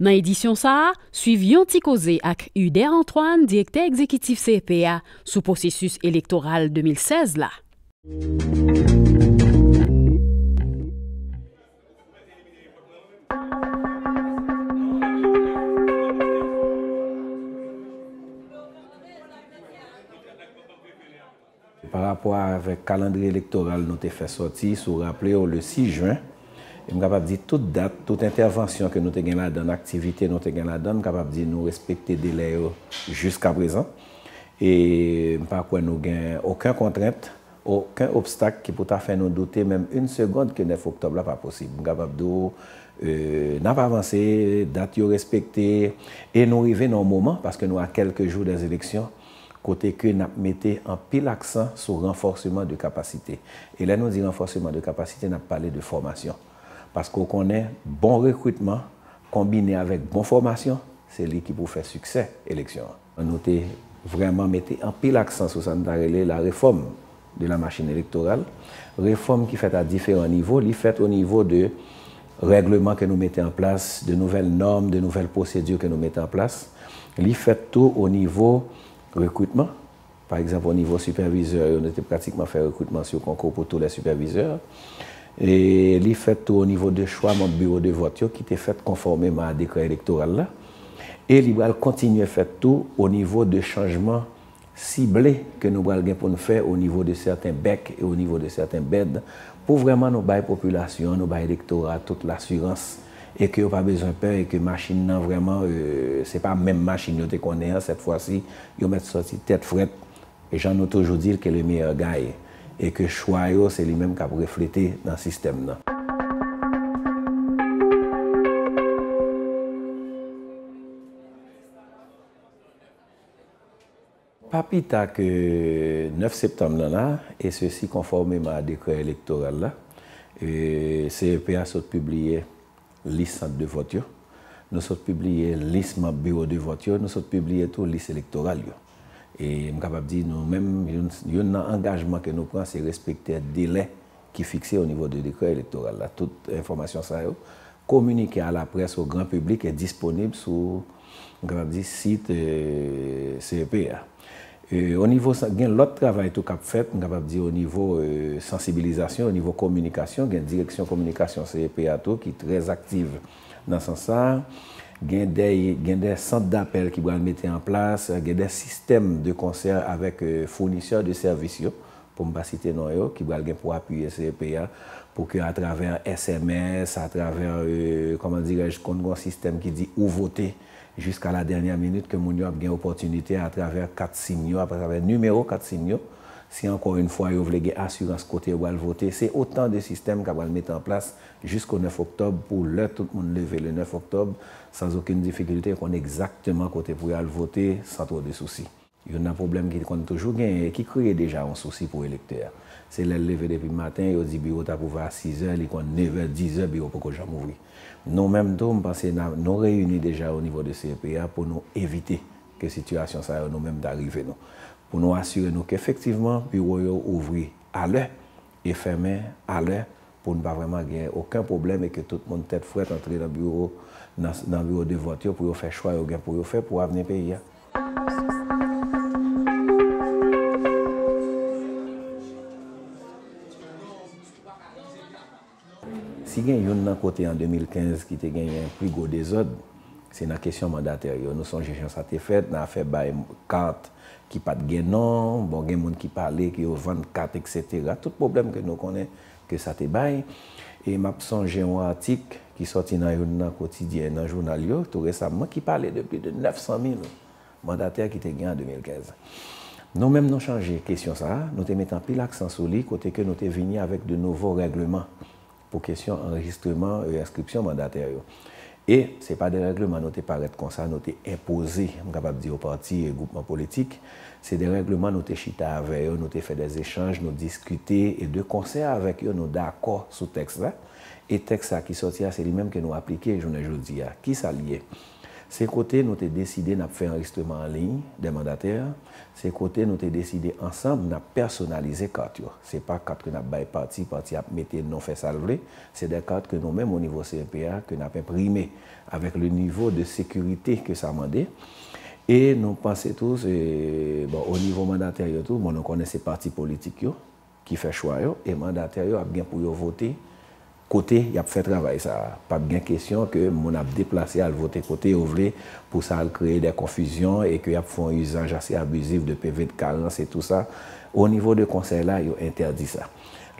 Nan edisyon sa a, swiv yon ti koze ak Uder Antoine, direktè egzekitif CEP a, sou pwosesis elektoral 2016 la. Pa rapò avèk kalandriye elektoral nou te fè sòti, si w raple w, le 6 jen, e m kapab di tout dat, tout entèvansyon ke nou te gen ladann, aktivite nou te gen ladann, m kapab di nou respekte delè yo jiskaprezan. E m pa kwè nou gen oken kontrent, oken obstak ki pou ta fè nou doute menm yn segond ke 9 oktòb la pa posib. M kapab di w n ap avanse, dat yo respekte, e nou rive nan yon moman, paske nou a kèlke jou dèzeleksyon, kote ke nap mete anpil aksan sou ranfòseman de kapasite. E lè nou di ranfòseman de kapasite nap pale de fòmasyon. Paske ou konnen bon rekritman konbine avèk bon fòmasyon se li ki pou fè siksè eleksyon an. Nou te vrèman mete anpil aksan sou sa nou ta rele la refòm de la machine electorale, refòm ki fèt a diferan nivo, li fèt o nivo de règleman ke nou mete an plas, de nouvèl nòm, de nouvèl pwosedi ke nou mete an plas, li fèt tou o nivo rekritman, pa egzanp o nivo sipèvizè yo nou te pratikman fè rekritman sou konkou pou tou lè sipèvizè, e li fèt tou o nivo de chwa manb biwo de vòt yo ki te fèt konfòmeman a dekrè elektoral la, e li pral kontinye fèt tou o nivo de chanjman sible ke nou pral gen pou n fè o nivo de sèten bèk e o nivo de sèten bèd pou vrèman nou bay popilasyon an, nou bay elektora a tout lasirans e ke yo pa bezwen pè e ke machin nan vrèman se pa menm machin yo te konnen an sèt fwa si yo mèt sòti tèt frèt jan nou toujou di l ke le meyè gaye e ke chwa yo se li menm k ap reflete nan sistèm nan. Pa pi ta ke 9 septanm nan la, e sesi konfòmeman a dekrè elektoral la, CEP a sot pibliye lis sant de vòt yo, nou sot pibliye lis manb biwo de vòt yo, nou sot pibliye tou lis elektoral yo. E m kapab di nou menm, youn nan angajman ke nou pran se respektè delè ki fikse o nivo de dekrè elektoral la. Tout enfòmasyon sa yo kominike a la près o gran piblik e disponib sou grandi sit CEP a. O nivo sa, gen lòt travay tou k ap fèt, m kapab di o nivo sansibilizasyon, o nivo kominikasyon, gen direksyon kominikasyon CEP a tou ki trè aktiv nan sans sa a. Gen dè, gen dè sant dapèl ki pral mete an plas, gen dè sistèm de konsè avèk founisè de sèvis yo pou m pa site non yo, ki pral gen pou apiye CEP a, pou ke atravè sms, atravè, kòman dirèj, konn gen yon sistèm ki di ou vote jiska la dènyè minit, ke moun yo ap gen opòtinite atravè kat sim yo, atravè nimewo kat sim yo, si ankò yn fwa yo vle gen asirans kote yo pral vote. Se otan de sistèm ka pral mete an plas jisko 9 oktòb, pou lè tout moun leve le 9 oktòb, san zokenn difikilte, konn egzakteman kote pou y al vote, san twò de sousi. Youn nan pwoblèm ki konn toujou genyen e ki kreye deja yon sousi pou elektè a, se lè l leve depi maten, yo di biwo t ap ouvè a sizè, li konn nevè, dizè biwo poko janm ouvri. Nou menm tou, m panse na, nou reyini deja onivo de CEP a pou nou evite ke sitiyasyon sa yo nou menm ta rive nou. Pou nou asire nou kefektivman biwo yo ouvri alè e fèmen alè pou n pa vrèman gen oken pwoblèm e ke tout moun tèt frèt antre nan biwo, nan, nan biwo de vòt yo pou yo fè chwa yo gen pou yo fè pou avni peyi a. Si gen youn nan kote an 2015 ki te genyen pi gwo dezòd, se nan kesyon mandatè yo. Nou sonje jan sa te fèt nan afè bay kat ki pa t gen non, bon gen moun ki pale ke yo vann kat eksetera, tout pwoblèm ke nou konnen ke sa te bay, e m ap sonje yon atik ki sòti nan youn nan kotidyen nan jounal yo tou resamman ki pale de pli de 900 mil mandatè ki te gen an 2015. Nou menm nou chanje kesyon sa a, nou te mete anpil aksan sou li kote ke nou te vini avèk de nouvo règleman pou kesyon anrejistreman e enskripsyon mandatè yo. E, se pa de règleman nou te parèt konsa, nou te enpoze, m kapab di yo pati e gwoupman politik. Se de règleman nou te chita avè yo, nou te fè de zechanj, nou diskite e de konsè avèk yo nou dakò sou tèks la. E tèks sa ki sòti a se li menm ke nou aplike jounen jodi a. Ki sa li ye? Se kote nou te deside n ap fè anrejistreman anliy dè mandatè, se kote nou te deside ansanm n ap pèsonalize kat yo. Se pa kat ke n ap bay pati, pati ap mete non fè sa l vle. Se dè kat ke nou menm o nivo CEP a ke n ap enprime avèk le nivo de sekirite ke sa mande. E nou panse tou se, bon, o nivo mandatè yo tou, bon, nou konnen se pati politik yo ki fè chwa yo e mandatè yo ap gen pou yo vote. Kote yap fè travay sa a, pap gen kesyon ke moun ap deplase al vote kote yo vle pou sa al kreye dè konfizyon e ke yap fè yon izaj ase abizif de PV de karans e tou sa. O nivo de konsèy la, yo entèdi sa.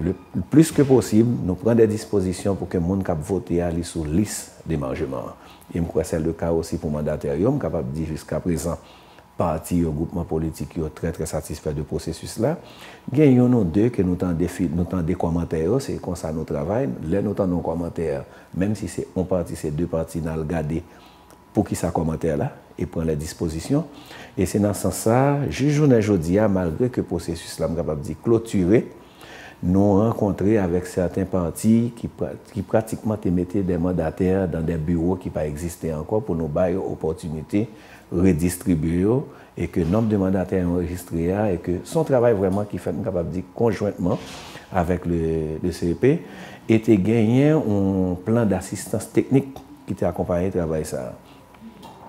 Le plis ke posib, nou pran dè dispozisyon pou ke moun kap vote a li sou lis demanjeman an. E m kwè sè le ka osi pou mandatè yo, m kapab di jiska prezan. Pati yo, gwoupman politik yo trè trè satisfè de pwosesis la. Gen youn ou de ke nou tande fi, nou tande kòmantè yo, se konsa nou travay. Lè nou tande yon kòmantè, menm si se yon pati, se de pati, n al gade poukisa kòmantè la e pran lè dispozisyon. E se nan sans sa, jis jounen jodi a, malgre ke pwosesis la, m kapab di, klotire, nou rankontre avèk sèten pati ki pra, ki pratikman te mete dè mandatè dan dè biwo ki pa egziste ankò pou nou ba yo opòtinite redistribye yo e ke nonb de mandatè anrejistre a e ke son travay vrèman ki fèt m kapab di konjwentman avèk le CEP e te genyen yon plan dasistans teknik ki te akonpaye travay sa a.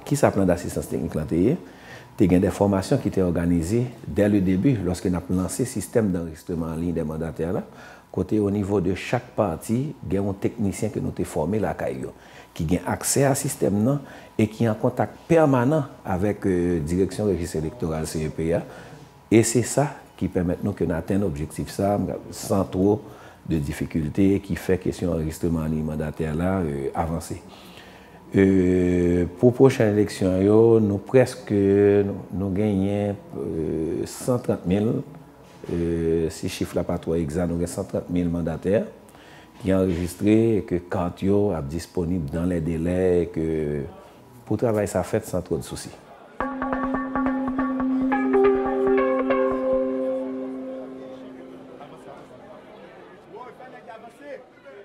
Kisa plan dasistans teknik lan te ye? Te gen de fòmasyon ki te òganize dè le debi lòske n ap lanse sistèm danrejistreman anliy de mandatè la kote onivo de chak pati gen yon teknisyen ke nou te fòme lakay yo. ki gen aksè a sistèm nan e ki an kontak pèmanan avèk Direksyon Rejis Elektoral, CEP, a, e se sa ki pèmèt nou ke n atenn objektif sa a san two de difikilte e ki fè kesyon anrejistreman an liy mandatè la avanse. Pou pwochen eleksyon yo, nou prèske, nou genyen 130 mil, si chif la pa two egza, nou gen 130 mil mandatè ki anrejistre e ke kart yo ap disponib dan lè delè e ke pou travay sa fèt san twod sousi.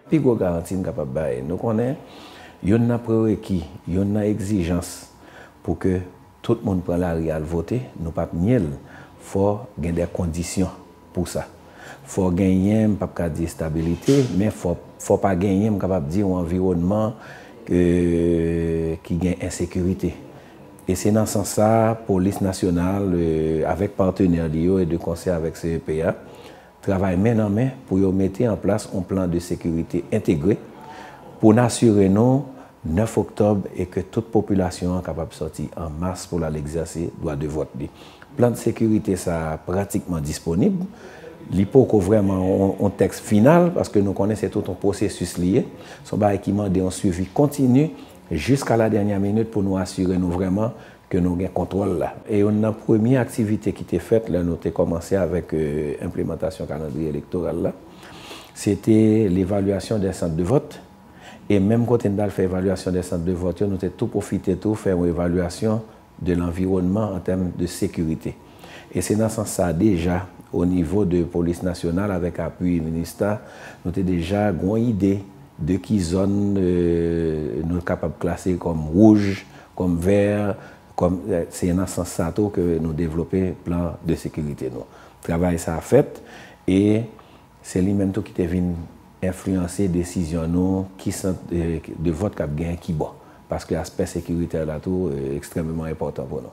Pi gwo garanti n kapab bay, nou konnen youn nan prereki, youn nan egzijans pou ke. Tout moun pran lari al vote, nou pap nye l, fò gen dè kondisyon pou sa. Fò genyen, m pap ka di estabilite, men fò fò pa genyen, m kapab di yon anviwònman ke ki gen ensekirite. E se nan sans sa, polis nasyonal avèk patenè li yo e de konsè avèk CEPA, Travay men nan men pou yo mete an plas yon plan de sekirite entegre pou n asire nou 9 oktòb e ke tout popilasyon an kapab sòti an mas pou l al egzèse dwa de vòt li. Plan de sekirite sa a pratikman disponib. Li poko vrèman yon tèks final paske nou konnen se tout yon pwosesis li ye. Se yon bagay ki mande yon swivi kontini jiska la dènyè minit pou nou asire nou vrèman ke nou gen kontwòl la. E youn nan premye aktivite ki te fèt lè nou te kòmanse avèk enplemantasyon kalandriye elektoral la, se te levalyasyon dè sant de vòt. E menm kote n t al fè evalyasyon dè sant de vòt yo, nou te tou pwofite tou fè yon evalyasyon de lanviwònman an tèm de sekirite. E se nan sans sa deja, o nivo de polis nasyonal avèk apui minista, nou te deja gen yon ide de ki zòn nou kapab klase kòm wouj, Kòm veer, kòm, se nan sans sa tou ke nou devlope plan de sekirite nou. Travay sa fèt e se li menm tou ki te vin enfliyanse desizyon nou ki sant de vòt k ap gen ki bò. Paske aspè sekiritè la tou ekstrèmeman enpòtan pou nou.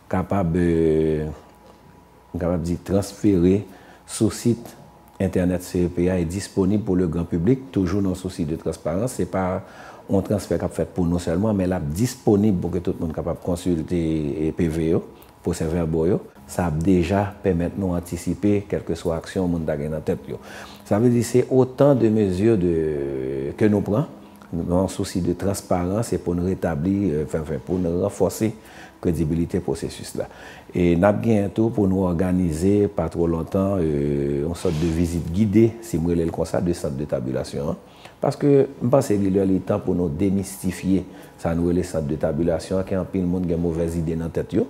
kapab, m kapab di, transfere sou sit entènèt CEP a e disponib pou le gran piblik, toujou nan sousi de transparans. Se pa yon transfè k ap fèt pou nou sèlman, men l ap disponib pou ke tout moun kapab konsilte PV yo, pwosèvèbo yo. Sa ap deja pèmèt nou antisipe kèlkeswa aksyon moun ta gen nan tèt yo. Sa vle di se otan de mezi de ke nou pran nan sousi de transparans e pou n retabli, pou n ranfòse kredibilite pwosesis la. E n ap genyen tou pou nou òganize pa twò lontan yon sòt de vizit gide, si m rele l konsa, de sant de tabilasyon an. Paske m panse li lè li tan pou nou demistifye sa nou rele sant de tabilasyon an ke anpil moun gen movèz ide nan tèt yo.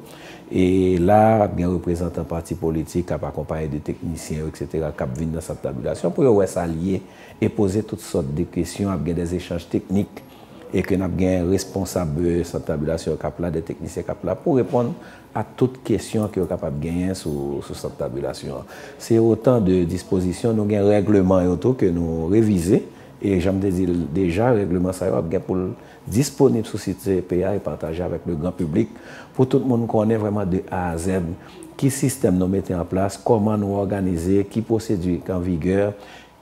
E la a ap gen reprezantan pati politik k ap akonpaye de teknisyen yo eksetera k ap vin nan sant tabilasyon pou yo wè sa l ye e poze tout sòt de kesyon, ap gen dè echanj teknik. e ke nap gen responsab sant tabilasyon kap la, de teknisyen kap la pou reponn a tout kesyon ke yo kapab genyen sou sant tabilasyon an. Se otan de dispozisyon, nou gen règleman yo tou ke nou revize, e janm te dil deja règleman sa yo ap gen poul disponib sou sit CEP a e pataje avèk le gran piblik pou tout moun konnen vrèman de A a Z ki sistèm nou mete an plas, kòman nou òganize, ki pwosedi k an vigè,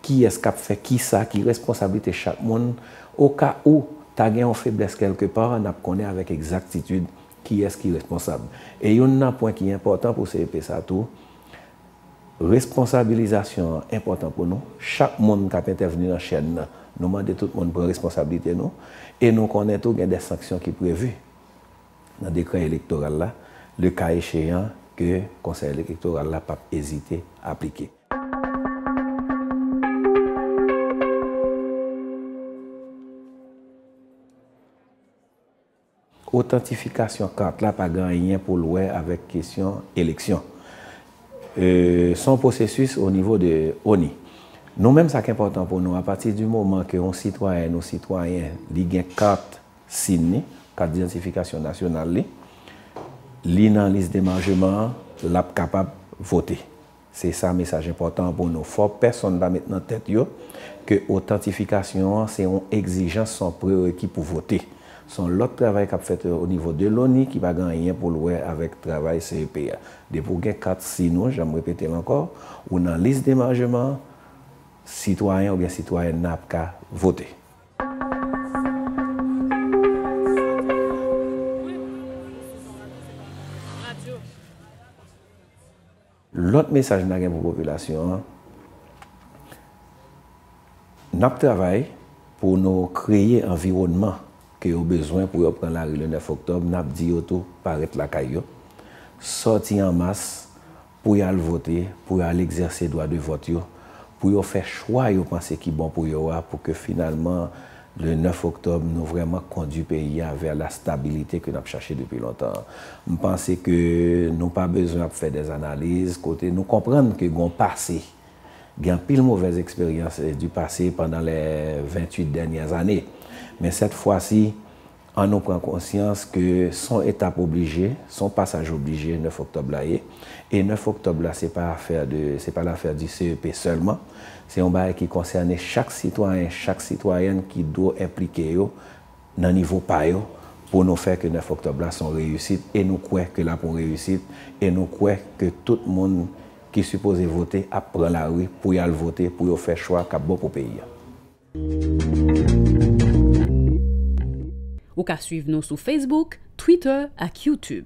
Kiyès k ap fè kisa, ki responsablite chak moun, oka ou ta gen yon feblès kèlke pa, n ap konnen avèk egzaktitid kiyès ki responsab. E youn nan pwen ki enpòtan pou CEP sa tou, responsabilizasyon an enpòtan pou nou, chak moun k ap entèvni nan chèn nan, nou mande tout moun pran responsablite nou, e nou konnen tou gen de sanksyon ki previ nan dekrè elektoral la, lekaecheyan ke Konsèy Elektoral la p ap ezite aplike. Otantifikasyon kat la pa gen anyen pou l wè avèk kesyon eleksyon. Se yon pwosesis o nivo de ONI. Nou menm sa k enpòtan pou nou, apati di moman ke yon sitwayèn ou sitwayen li gen kat sim li, kat didantifikasyon nasyonal li, li nan lis demanjeman an, l ap kapab vote. Se sa mesaj enpòtan an pou nou. Fò pèsonn pa met nan tèt yo ke otantifikasyon an se yon egzijans, se yon prereki pou vote. Se yon lòt travay k ap fèt o nivo de loni ki pa gen anyen pou l wè avèk travay CEP a. Depi ou gen kat sin ou, jan m repete l ankò, ou nan lis demarjeman an, sitwayen oubyen sitwayèn nan ap ka vote. Lòt mesaj na gen pou popilasyon an, nap travay pou nou kreye anviwònman ke yo bezwen pou yo pran lari le 9 oktòb, nap di yo tou pa ret lakay yo, sòti an mas pou yo al vote, pou yo al egzèse dwa de vòt yo, pou yo fè chwa yo panse ki bon pou yo a, pou ke finalman. Le 9 Oktòb, nou vrèman kondwi peyi a vè la stabilite ke n ap chache depi lontan an. M panse ke nou pa bezwen ap fè dè analiz kote nou konprann ke gen yon pase. Gen anpil movèz eksperyans du pase pandan les 28 dènyè ane. Men sèt fwa si, An nou pran konsyans ke son etap oblije, son pasaj oblije 9 oktòb la ye. E 9 oktòb la se pa afè de, se pa lafè di CEP sèlman. Se yon bagay ki konsène chak sitwayen, chak sitwayèn ki dwo enplike yo nan nivo pa yo pou nou fè ke 9 oktòb la son reyisit e nou kwè ke lap yon reyisit e nou kwè ke tout moun ki sipoze vote ap pran lari pou yal vote pou yo fè chwa kap bon pou peyi a. Ou ka swiv nou sou Facebook, Twitter ak YouTube.